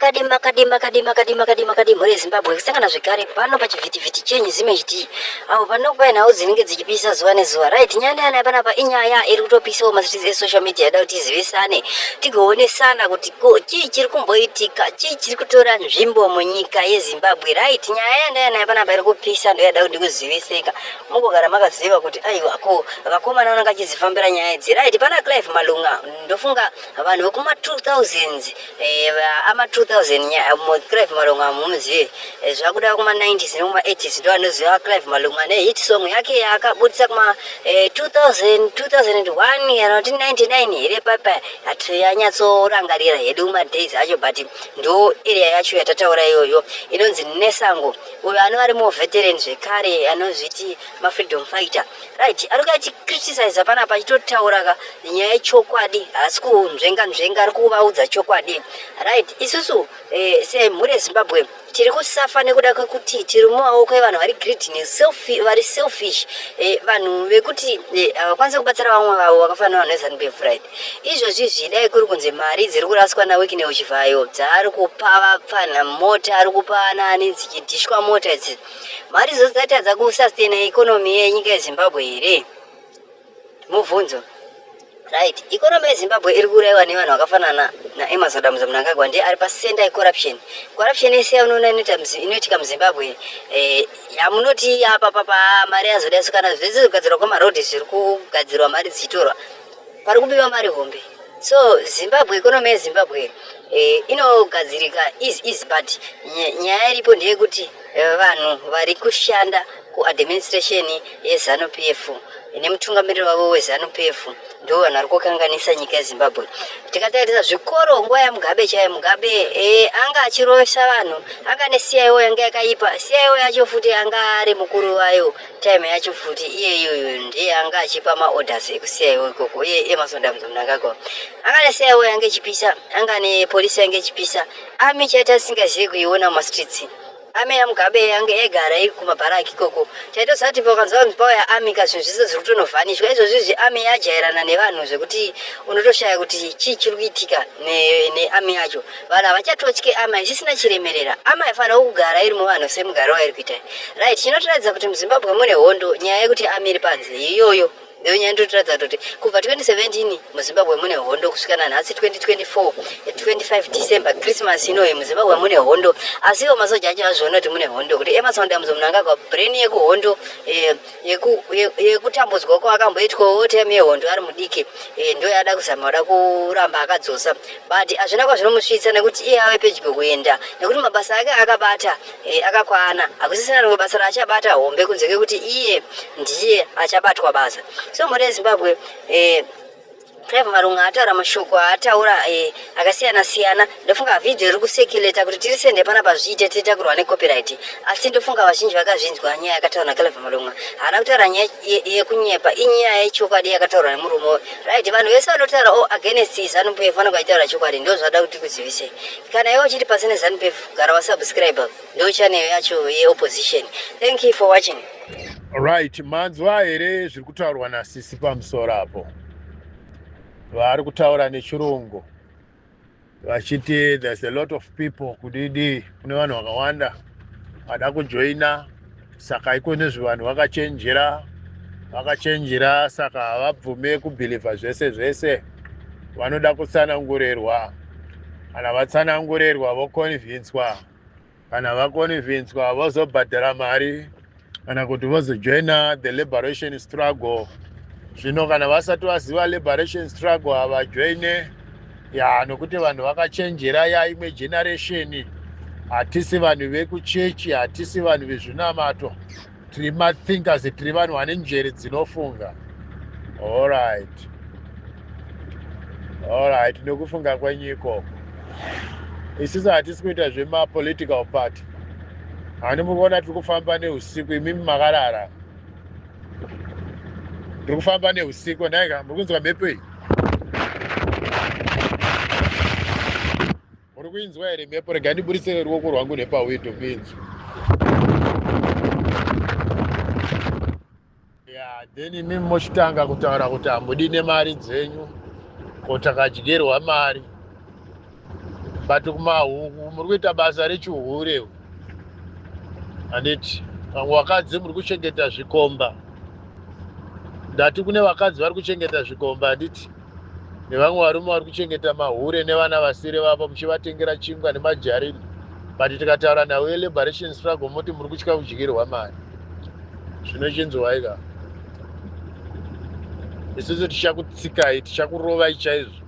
Kadima kadima kadima kadima kadima kadimho rezimbabwe kusangana zvekare pano pachivhitivhiti chenyu zimhd apo panokupa nhau dzinenge dzichipisa zuva nezuva right nyaya ndeyana yapanapa inyaya iri kutopisawo mastrits esocial media yada kuti izivisane tigoonesana kuti ko chii chiri kumboitika chii chiri kutora nzvimbo munyika yezimbabwe right nyaya yandeyana yapanapa iri kupisa ndoyada kuti kuziviseka mugogara makaziva kuti aiwa ko vakomana vananga achizifambira nyaya idzi right pana clive malunga ndofunga vanhu vekuma 2000 Eh, ama 2000 nya eh, mo Clive Malonga amuzive eh, zvakuda kuma 90s nekuma 80s ndo anoziva Clive Malonga ne hit song yake yaakabudisa kuma 2000 2001 kana kuti 99 here papa hatiyanyatsorangarira hedu kuma days acho but ndo area yacho yatataura iyoyo inonzi Nesango uyo anova ari mo veteran zvekare anozviti ma freedom fighter right ari kuya chicriticiza panapa achitotaura ka nyaya yechokwadi haasi kunzvenga nzvenga ari kuvaudza chokwadi right isusu eh, semhuri yezimbabwe tiri kusafa nekuda kwekuti tiri mumaoko evanhu vari greedy neselfi vari selfish eh, vanhu vekuti eh, havakwanise kubatsira vamwe vavo vakafanira vanhu vezanup f right izvozvi zvidai kuri kunzi mari dziri kuraswa nawekineuchivayo dzaari kupa vapfanha mota ari kupa anaani dzichidhishwa mota idzi mari idzo dzingatadza kusustaina economy yenyika yezimbabwe here mubvunzo right economy yezimbabwe iri kuuraiwa nevanhu vakafanana naemas adamuza munangagwa ndiye ari pacenter yecorruption corruption yese yaunoona inoitika muzimbabwe eh, yamunoti apapapa mari yazoda sukana zvese zvigadzirwa kwemaroad zviri kugadzirwa mari dzichitorwa pari kubiwa mari hombe so zimbabwe economy yezimbabwe eh, inogadzirika easy easy but ny- nyaya iripo ndeyekuti eh, vanhu vari kushanda kuadministration yezanu p f nemutungamiriri wavo wezanu p f ndivo vanhu vari kukanganisa nyika yezimbabwe tikatarisa zvikoro nguva yamugabe chaiyo mugabe eh, anga achirovesa vanhu anga ne cio yanga yakaipa cio yacho futi anga ari mukuru wayo time yacho futi iye iyoyo ndiye anga achipa maorders ekusiyaiwo ikoko iye emasondamzo mnangagwa anga nesiyaiwo yange ichipisa anga nepolisi yange ichipisa ami chaita tisingazivi kuiona mumastreets ami yamugabe yange yaigara iri kumabharaki ikoko chaitozati pakanzwa kunzi pauya ami ka zvinhu zvese zviri kutonovhanishwa izvozvi izvi ami yajairana nevanhu zvekuti unotoshaya kuti chii chiri kuitika neami yacho vanhu havachatotye amai zvisina chiremerera amai fanira kugara iri muvanhu semugaro wairi kuita right chinotiratidza kuti muzimbabwe mune hondo nyaya yekuti amiri panze iyoyo iyo nyaya ndotiratidza kuti kubva 2017 muzimbabwe mune hondo kusvika nanhasi 2024 25 december christmas inoyi muzimbabwe mune hondo asiwo masoja acho azviona kuti mune hondo kuti emasound amuzo munhu angagwa brain yekuhondo eh, yekutambudzwa ye, ye kwaakamboitwa wo time yehondo ari mudiki e, ndo yaada kuzama kuda kuramba akadzosa but hazvina kwazvinomusvitsa nekuti iye ave pedyo kuenda nekuti mabasa ake akabata e, akakwana hakusisina rimwe basa raachabata hombe kunze kekuti iye ndiye achabatwa basa so mhuri yezimbabwe e, Clive Marunga ataura mashoko aataura eh, akasiyana siyana ndofunga video iri kusekuleta kuti tiri sende pana pazviite tiita kurwa necopyright asi ndofunga vazhinji vakazvinzwa nyaya yakataura naClive Marunga haana kutaura nyaya yekunyepa inyaya yechokwadi yakataurwa nemurume uyu right vanhu vese vanotaura o oh, against zanupf vanenge vachitaura chokwadi ndo zvada kuti kuzivisei kana iwe uchiti pasi nezanupf gara wasubscribe ndo chaneyo yacho yeopposition thank you for watching right manzwa here zviri kutaurwa nasisi pamusoro apo vari kutaura nechirungu vachiti there's a lot of people kudidi kune vanhu vakawanda vada kujoina saka iko nezve vanhu vakachenjera vakachenjera saka havabvume kubhilivha zvese zvese vanoda kutsanangurerwa kana vatsanangurerwa voconvinswa kana vakonivhinswa vozobhadhara mari kana kuti vozojoina the liberation struggle zvino kana vasati vaziva liberation struggle havajoine ya nokuti vanhu vakachenjera ya imwe generation hatisi vanhu vekuchechi hatisi vanhu vezvinamato tiri mathinkers tiri vanhu vane njere dzinofunga allright allright nekufunga kwenyu ikoko isisu hatisi kuita zvemapolitical party handi muri kuona tiri kufamba neusiku imimi makarara tiri kufamba neusiku ndaika muri kunzwa mhepo iyi Muri kuinzwa here mhepo? Rega ndiburitse ruoko rwangu nepawindow kuinzwa. Yeah, then imimi mochitanga kutaura kuti hamudi nemari dzenyu ko takadyerwa mari but kumahuku muri kuita basa rechihure handiti vamwe vakadzi muri kuchengeta zvikomba ndati kune vakadzi vari kuchengeta zvikomba handiti nevamwe varume vari kuchengeta mahure nevana vasiri vavo muchivatengera chingwa nemajarini but tikataura nhau yeliberation struggle moti muri kutya kudyirwa mari zvino chinzwai ka isusu tichakutsikai tichakurovai chaizvo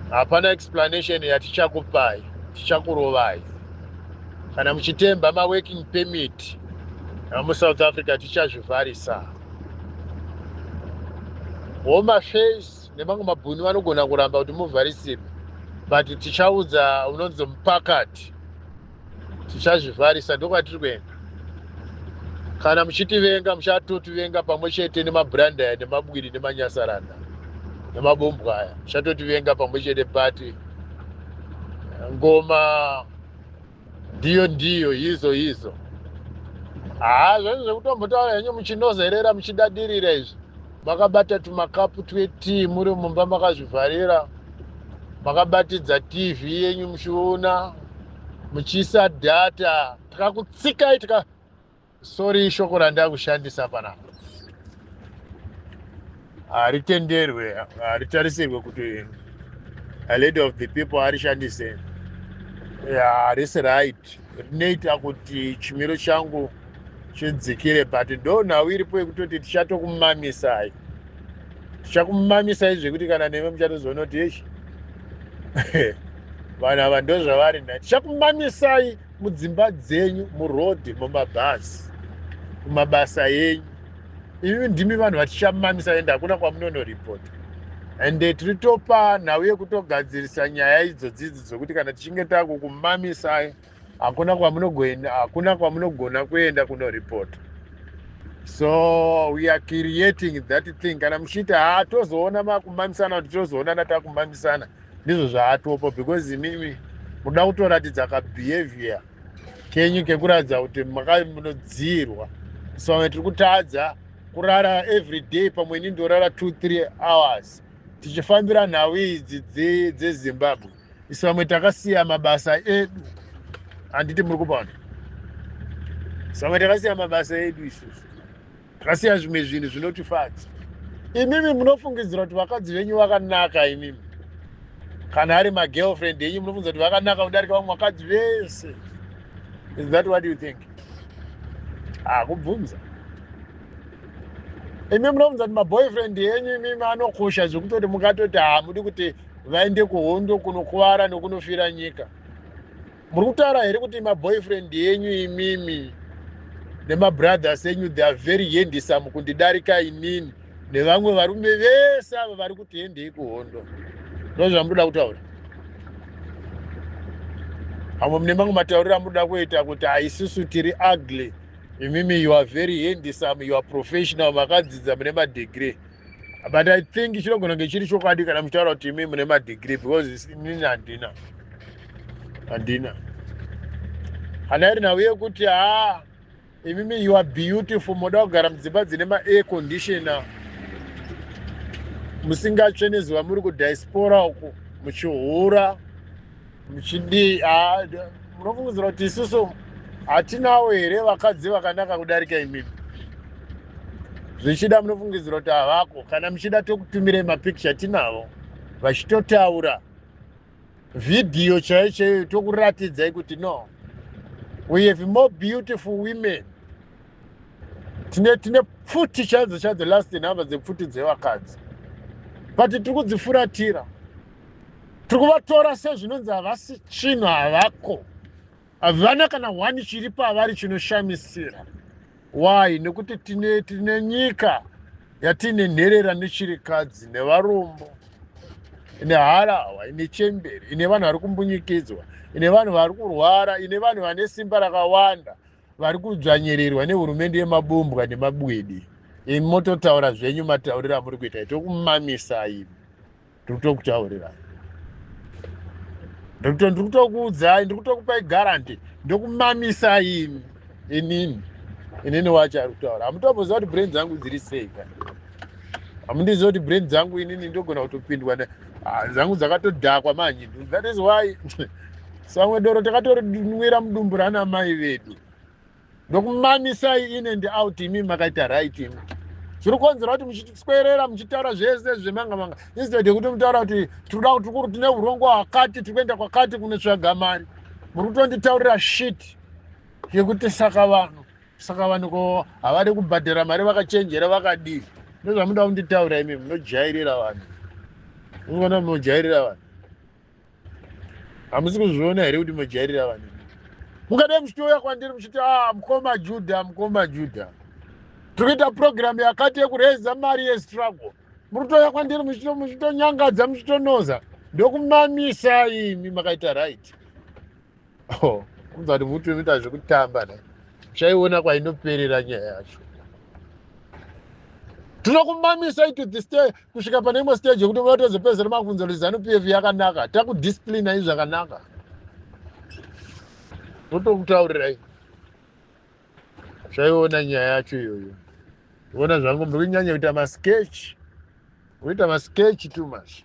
hapana explanation yatichakupai tichakurovai kana muchitemba maworking permit amusouth africa tichazvivharisa home affairs nemamwe mabhuni vanogona kuramba kuti muvharisirwe but tichaudza unonzi mupakati tichazvivharisa ndokwatiri kuenda kana muchitivenga muchatotivenga pamwe chete nemabranda aya nemabwiri nemanyasaranda nemabombwa aya muchatotivenga pamwe chete but ngoma ndiyo ndiyo yizo yizo haa ah, zvezvo zvekutombotaura henyu muchinozerera muchidadirira izvi makabata tumakapu twetii muri mumba makazvivharira makabatidza tv yenyu muchiona muchiisa dhata tikakutsikai tika Sorry ishoko randakushandisa panapa haritenderwe haritarisirwe kuti a lady of the people arishandise harisi right rinoita kuti chimiro changu chidzikire but ndo nhau iripo yekutoti tichatokumamisai tichakumamisai zvekuti kana neve muchatozoona kuti eshi vanhu ava ndozvavari nda tichakumamisai mudzimba dzenyu muroad mumabhazi kumabasa enyu imi ndimi vanhu vatichamamisa ende hakuna kwamunonoripota and eh, tiri topa nhau yekutogadzirisa nyaya idzo dzidzi dzokuti kana tichinge takukumamisai hakuna kwamunogoenda hakuna kwamunogona kuenda kunoripota so we are creating that thing kana muchiita haa tozoona makumamisana kuti tozoonana takumamisana ndizvo zvaatopo because imimi muda kutoratidza kabehavior kenyu kekuratidza kuti makamunodziirwa so vamwe tiri kutadza kurara every day pamwe ini ndorara two three hours tichifambira nhau idzi dzezimbabwe isu vamwe takasiya mabasa edu handiti muri kupaona samwe takasiya mabasa edu isusu zvasiya zvimwe zvinhu zvinotifadza imimi munofungidzira kuti vakadzi venyu vakanaka imimi kana ari magirlfriend enyu munofungidzira kuti vakanaka kudarika vamwe vakadzi vese is that what you think hakubvunza ah, imi munofunza kuti maboyfriend enyu imimi anokosha zvekutoti mungatoti hamudi kuti vaende kuhondo kunokuvara nokunofira nyika muri kutaura here kuti maboyfriend enyu imimi nemabrothers enyu they are very hendisam kundidarika inini nevamwe varume vese ava vari kuti hendei kuhondo ndo zvamunoda kutaura amwe mune mamwe matauriro amunoda kuita kuti haisusu tiri ugly imimi you are very hendisam you are professional makadzidza mune madegree but i think chinogona kunge chiri chokwadi kana muchitaura kuti imi mune madegree because inini handina handina hana iri nhau yekuti haa imimi you are beautiful moda kugara mudzimba dzine maair conditioner musingatsve nezuva muri kudiaspora uku muchihura muchidii ah, munofungidzira kuti isusu hatinawo here vakadzi vakanaka kudarika imimi zvichida munofungidzira kuti havako kana muchida tokutumirei mapikicha tinavo vachitotaura vhidhiyo chaiyo chaiyo tokuratidzai kuti no we have more beautiful women tine tine pfuti chaidzo chaidzo last number dzepfuti dzevakadzi but tiri kudzifuratira tiri kuvatora sezvinonzi havasi chinhu havako havana kana one chiri pavari chinoshamisira why nekuti tine tine nyika yatiine nherera nechirikadzi nevarombo ine harahwa ine chemberi ine vanhu vari kumbunyikidzwa ine vanhu vari kurwara ine vanhu vane simba rakawanda vari kudzvanyirirwa nehurumende yemabumbwa nemabwidi imi mototaura zvenyu matauriro amuri kuita itokumamisa imi ndikutokutaurirai ndokuto ndikutokuudzai ndikutokupai garanti ndokumamisai imi inini inini wacho ari kutaura hamutomboziva kuti brain dzangu dziri sei ka hamundiziva kuti brain dzangu inini ndogona kutopindwa ah, dzangu dzakatodhakwa manje that is why samwe doro takatorinwira mudumbu rana mai vedu ndokumamisai in and out imi makaita right imi zviri kukonzera kuti muchiswerera muchitaura zvese zvemanga manga instead yekuti mutaura kuti tikuda kuti kuri tine urongo hwakati tiri kuenda kwakati kunotsvaga mari muri kutonditaurira shit yekuti saka vanhu saka vanhu ko havadi kubhadhara mari vakachenjera vakadii ndozvamuda kunditaura imi munojairira vanhu unona munojairira vanhu hamusi kuzviona here kuti mojairira vanhu mukadai muchitouya kwandiri muchiti a ah, mukoma judha mukoma judha tiri kuita purogiramu yakati yekureza mari yestruggle muri kutouya kwandiri muchitonyangadza muchitonoza ndokumamisa imi makaita right Oh, kunzwa kuti muti unoita zvekutamba ne chaiona kwainoperera nyaya yacho tinokumamisa itu this day kusvika pane imwe stage yekuti unoda tozopedzera mabvunzo kuti zanu p f yakanaka takudisciplina i zvakanaka totokutaurirai zvaiona nyaya yacho iyoyo ona zvangu mbiri kunyanya kuita masketch kuita masketch too much